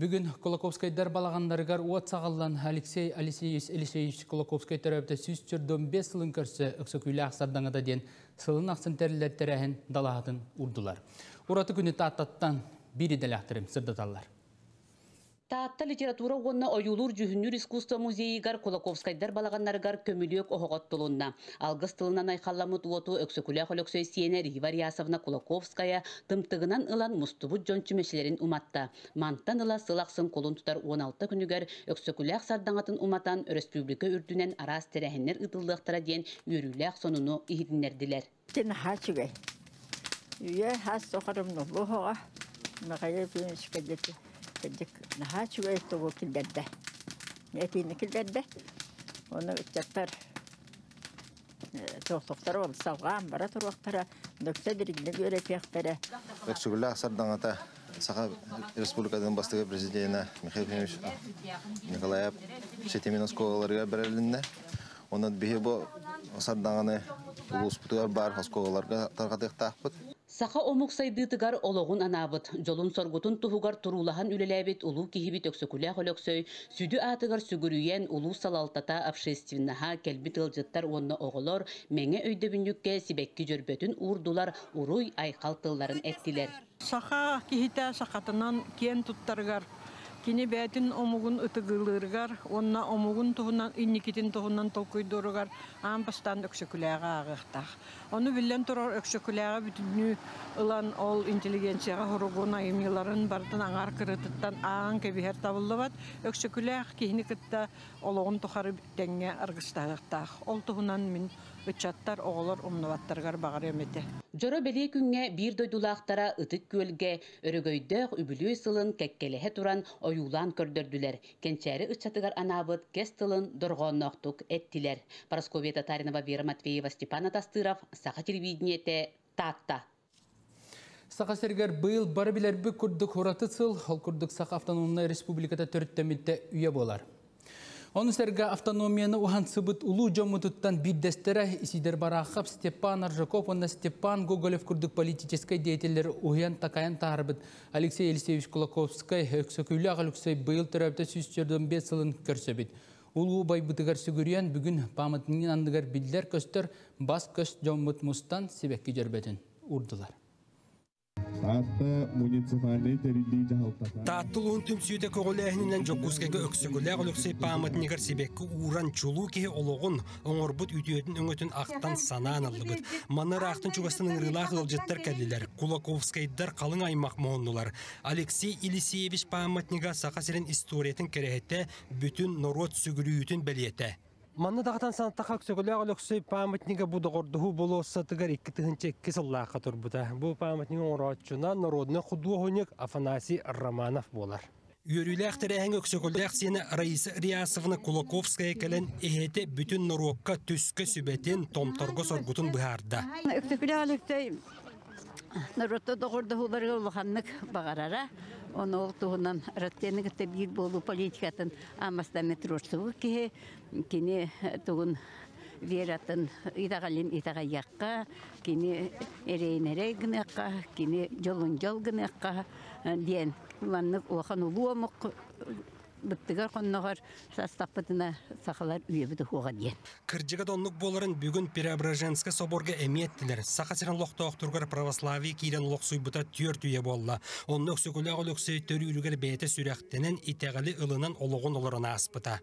Бүгүн Кулаковскайдар балаҕаннарыгар уот саҕаллан Алексей Алексеевич Кулаковскай төрөөбүтэ сүүс сөрдөн бес сылын көрсө Өксөкүүлээх сардаҥата диэн сылын ахсын тэриллэр тэрээһин далаһатын урдулар. Ураты күнү Тааттаттан биир идэлээхтэрим сырдаталлар. Таатта литература уонна ойуулуур-дьүһүннүүр искусство музейыгар Кулаковскайдар балаҕаннарыгар көмүлүөк оһоҕот тулунна. Алгыс тылынан айхаламмыт уоту Өксөкүлээх Өлөксөй сиэнэ Рива Рясовна Кулаковская тымтыгынан ылан мустубут дьон чүмэчилэрин уматта. Мантан ыла сыл ахсын кулун тутар 16 күнүгэр Өксөкүлээх сардаҥатын уматан өрөспүүбүлүкэ үрдүнэн араас тэрээһиннэр ыытыллыахтара диэн үөрүүлээх сонуну иһитиннэрдилэр. Ити наһаа үчүгэй. Үйэ хас соқырымны бұғыға Михаил Юрьевичке кырдык наһаа үчүгэй тугу киллерде. Этиини киллерде. Оны ыччаттар Философтар ол салҕаан бара туруохтара, докса дириҥник үөрэтиэхтэрэ. Өксүгүлээх сардаҥата Саха Республикатын бастыга президенэ Михаил Ефимович Николаев ситимин оскуолаларыгар бэрилиннэ. Онон биһи бу сардаҥаны улууспутугар баар оскуолаларга тарҕатыахтаахпыт. Саха омук сайдыытыгар олоҕун анаабыт, дьолун-соргутун туһугар туруулаһан үлэлээбит улуу киһибит Өксөкүлээх Өлөксөй сүдү аатыгар сүгүрүйэн улуус салалтата общественноһа, кэлбит ыалдьыттар уонна оҕолор мэҥэ өйдөбүнньүккэ сибэкки дьөрбөтүн уурдулар, уруй-айхал тылларын эттилэр. Саха киһитэ сахатынан киэн туттарыгар, кини бэйэтин омугун ытыгылыырыгар уонна омугун туһунан инникитин туһунан толкуйдууругар аан бастаан Өксөкүлээҕи ааҕыахтаах. Ону биллэн турар, Өксөкүлээҕи бүтүннүү ылан ол интеллигенцияҕа суругун айымньыларын барытын аҥаар кырыытыттан ааҕан кэбиһэр табыллыбат. Өксөкүлээх киһини кытта олоҕун тухары тэҥҥэ аргыстаһыахтаах. Ол туһунан мин ыччаттар, оҕолор умнубаттарыгар баҕарыам этэ. Дьоро-бэлиэ күҥҥэ биир дойдулаахтара Ытык Күөлгэ өрөгөйдөөх үбүлүөй сылын кэккэлэһэ туран ойуулаан көрдөрдүлэр, Кэнчээри ыччатыгар анаабыт кэс тылын дорҕоонноохтук эттилэр. Парасковья Татаринова Вера Матвеева Степан Атастыров Саха телевидениете Таатта. Саха сиригэр быйыл бары билэрбит курдук ураты сыл, ол курдук Саха автономная республиката төрүттэммитэ үйэ буолар. Ону сэргэ автономияны уһансыбыт улуу дьоммутуттан биирдэстэрэ Исидор Барахов, Степан Аржаков уонна Степан Гоголев курдук политическай деятеллэр уһуйан-такайан таарбыт Алексей Алексеевич Кулаковскай, Өксөкүлээх Алексей быйыл төрөөбүтэ сүүс төрдөн бес сылын көрсөбүт. Улуу байбытыгар сүгүрүйэн, бүгүн памятнигин анныгар биллэр-көстөр бас көс дьоммут мустан сибекки дьөрбөтүн урдулар. Тааттыл уһун түмсүүтэ көҕүлээһининэн Дьокуускайга Өксөкүлээх Алексей пааматнигар сибекки ууран чулуу киһи олоҕун, оҥорбут үтүөтүн өҥөтүн ахтан-санаан ыллыбыт. Манна ыраахтан чугастан ыҥырыылаах ыалдьыттар кэллилэр. Кулаковскайдар халыҥ аймах муһуннулар. Алексей Елисеевич пааматнига Саха сирин историятын кэрэһэтэ, бүтүн норуот сүгүрүйүүтүн бэлиэтэ. Манна даҕатан санаттахха Өксөкөлөөх Өлөксөй пааматнига бу доҕордоһуу болуоссатыгар икки тыһынча икки сыллаахха турбута. Бу пааматник оҥорооччуна народнай худуоһунньук Афанасий Романов буолар. Үөрүүлээх тэрээһиҥҥэ Өксөкүлээх сиэнэ Раиса Реасовна Кулаковская кэлэн иһэтэ бүтүн норуокка түскө сүбэтин, томторго соргутун быһаарда. Өксөкүлээх Алексей норуотта доҕордоһууларыгар улаханнык баҕарара. Оны ол туһунан Россияны кытта биир буолуу политикатын Амастан Метросову киһи кини тугун вератын итэҕэлин итэҕэйиэххэ, кини эрейнэрэй гыныахха, кини дьолун дьол гыныахха, диэн маннык улахан улуу омук быттыгар хонноҕор састаппытына сахалар үйэбит уһуоҕа диэн. Кырдьыга да оннук буоларын бүгүн Преображенскай соборга эмиэ эттилэр. Саха сирин олохтоохторугар православие киирэн олохсуйбута түөрт үйэ буолла. Онно Өксөкүлээх Өлөксөй төрүүрүгэр бэйэтэ сүрэхтэнэн, итэҕэли ылынан олоҕун олорон ааспыта.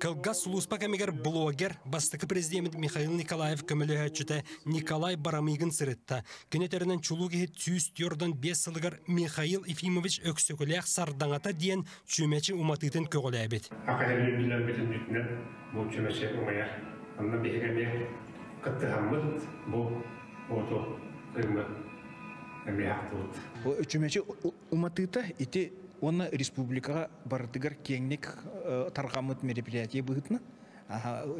Кылгас сулууспа кэмигэр блогер, бастакы президент Михаил Николаев көмөлөһөөччүтэ Николай Барамыгын сырытта. Кини өтөрүнэн чулуу киһит сүүс түөртэн биэс сылыгар Михаил Ефимович Өксөкүлээх Сардаҥата диэн чүмэчи уматыытын көҕүлээбит. Академиятын бүтүннэр бу чүмэчи умайар. Онно биһиги эмиэ кыттыһаммыт бу оту ырыммыт эмиэ ахтыбыт. Бу чүмэчи Уматыыта ити уонна республикаҕа барытыгар киэҥник тарҕаммыт мероприятие быһыытынан,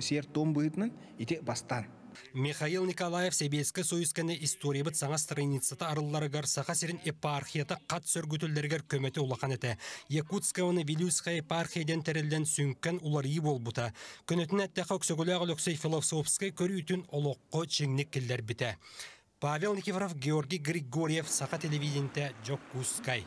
сиэр-туом быһыытынан ити бастаан. Михаил Николаев Сэбиэскэй Союзканы историябыт саҥа страницата арылларыгар Саха сирин епархията хат сөргүтүллэригэр көмөтө улахан этэ. Якутскаваны Вилюйская епархия диэн тэриллэн сүҥкэн уларыйыы буолбута. Көнөтүн эттэхэ Өксөкүлээх Өлөксөй философскай көрүүтүн олоххо чиҥник киллэрбитэ. Павел Никифоров, Георгий Григорьев, Саха телевидениетэ, Дьокуускай.